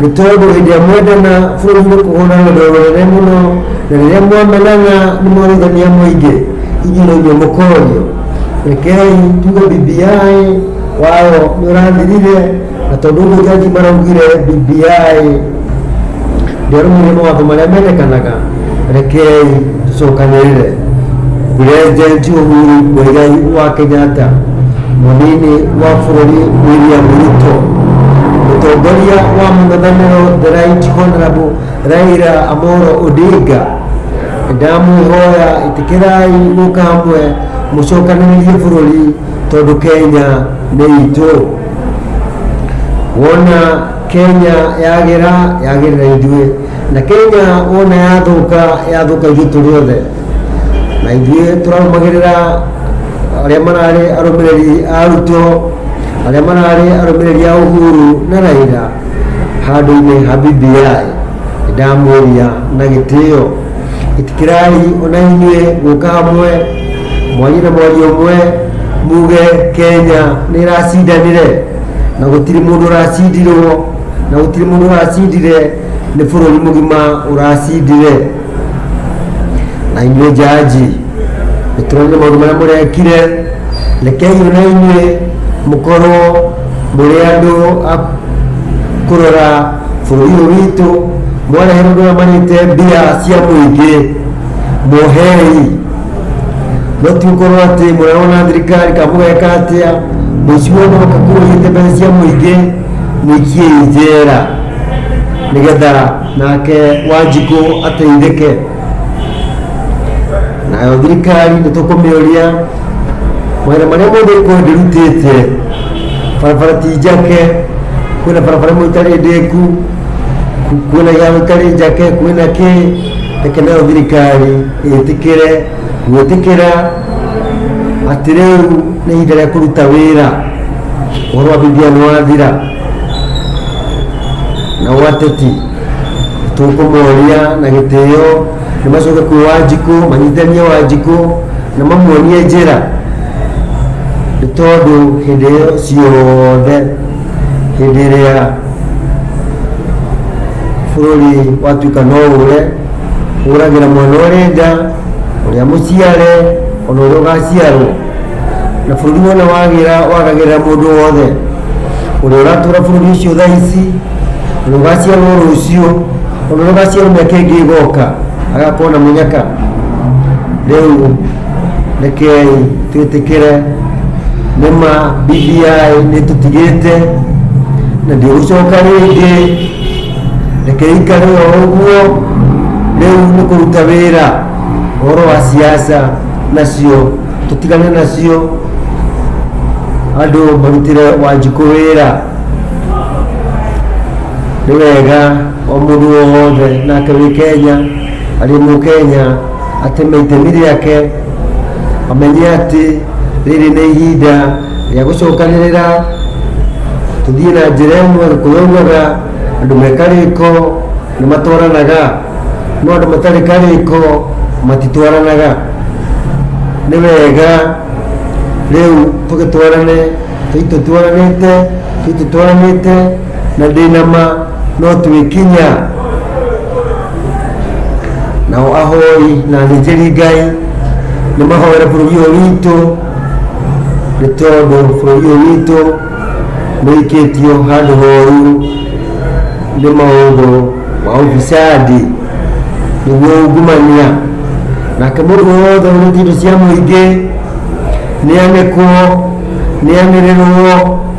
nĩ tondũ hĩndĩ ĩrĩa mwendana bũrũri nĩ kũhũra rũndũ rũnene mũno na rĩrĩa mwamenana nĩ mwarĩthania mũingĩ inyuĩ nĩ inyuĩ mũkorio rekei tuge bbi wao nĩ ũrathirire na tondũ ũguo jaji maraugire bbi ndĩarũmĩrĩire mawatho marĩa mendekanaga rekei tũcokanĩrĩre president Uhuru Muigai wa Kenyatta mũnini wa bũrũri William Ruto mũtongoria wa mũng'ethanĩro the right honorable Raila Amolo Odinga ndamwĩhoya ĩtĩkĩrai mũka hamwe mũcokanĩrĩrie bũrũri tondũ Kenya nĩ itũ wona Kenya yagĩra yagĩrĩra ithuĩ na kenya wona yathũka yathũka ithuĩ tũrĩ othe na ithuĩ tũrarũmagĩrĩra arĩa mararĩ arũmĩrĩri a ruto arĩa mararĩ arũmĩrĩri a uhuru na raira handũ-inĩ ha bbi ndamũria na gĩtĩo itikirai ona inyuĩ gũka hamwe mwanyu na mwaria ũmwe muge kenya nĩ ĩracindanire na gũtirĩ mũndũ ũracindirwo na gũtirĩ mũndũ ũracindire nĩ bũrũri mũgima ũracindire na inyuĩ njanji nĩtũronire maũndũ marĩa mũrekire rekei ona inyuĩ mũkorwo mũrĩ andũ a kũrora bũrũri ũyũ witũ mwarehe mũndũ ũrĩa marĩte mbia cia mũingĩ mohei no ti gũkorwo atĩ mũrarwo na thirikari kana mũgeka atĩa mũici wothe ũka kũiyĩte mbeca cia mũingĩ nĩkiĩ njera nĩgetha nake wanjikũ ateithĩke nayo thirikari nĩ tũkũmĩũria mawĩra marĩa mothe ĩkorwo ndĩrutĩte barabara ti njake kwĩna barabara ĩmwe ĩtarĩ ndĩku kwĩna iharo ĩtarĩ njake kwĩna kĩ reke nayo thirikari ĩtĩkĩre gwĩtĩkĩra atĩrĩu nĩ ihinda rĩa kũruta wĩra ũhoro wa bibilia nĩ wathira na wateti tũkũmoria na gĩtĩo nĩ macoke kwĩ wanjikũ manyitithanie wanjikũ na mamuonie njĩra nĩ tondũ hĩndĩ ĩyo ciothe hĩndĩ ĩrĩa bũrũri watuĩka no ũre huragĩra mwana ũrĩ nda ũrĩa mũciare ona ũrĩa ũgaciarwo na bũrũri wona wagĩra wagagĩra mũndũ wothe ũrĩa ũratũra bũrũri ũcio thaa ici ũrĩa ũgaciarwo rũciũ ona ũrĩa ũgaciarwo mĩaka ĩngĩ ĩgoka agakorwo na mũnyaka rĩu rekei twĩtĩkĩre nĩma BBI nĩtũtigĩte na ndigũcoka rĩngĩ reke ikare o ũguo rĩu nĩ kũruta wĩra ũhoro wa siasa nacio tũtigane nacio andũ marutĩre wanjikũ wĩra nĩ wega o mũndũ o wothe nake wĩ kenya arĩ mũ kenya ateme itemi rĩake amenye atĩ rĩrĩ nĩ ihinda rĩa gũcokanĩrĩra tũthiĩ na njĩra ĩmwe kũyaugaga andũ me karĩko nĩ matwaranaga no andũ matarĩ karĩko matitwaranaga nĩ wega rĩu tũgĩtwarane tũitũtwaranĩte tũitũtwaranĩte na ndĩnama no twĩkinya nao ahoi na athĩnjĩri ngai nĩ mahoera bũrũri ũyũ witũ nĩ tondũ bũrũri ũyũ witũ nĩikĩtio handũ horu nĩ maũndũ ma ũbicandi nĩguo ungumania nake mũndũ wothe ũrĩtie indo cia mũingĩ nĩanĩkwo nĩanĩrĩrwo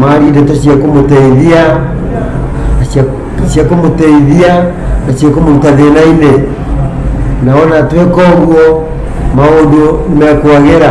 mari ndeto cia kũmũteithia na cia- cia kũmũteithia na cia kũmũruta thĩna-inĩ na ona twĩka ũguo maũndũ nĩ mekwagĩra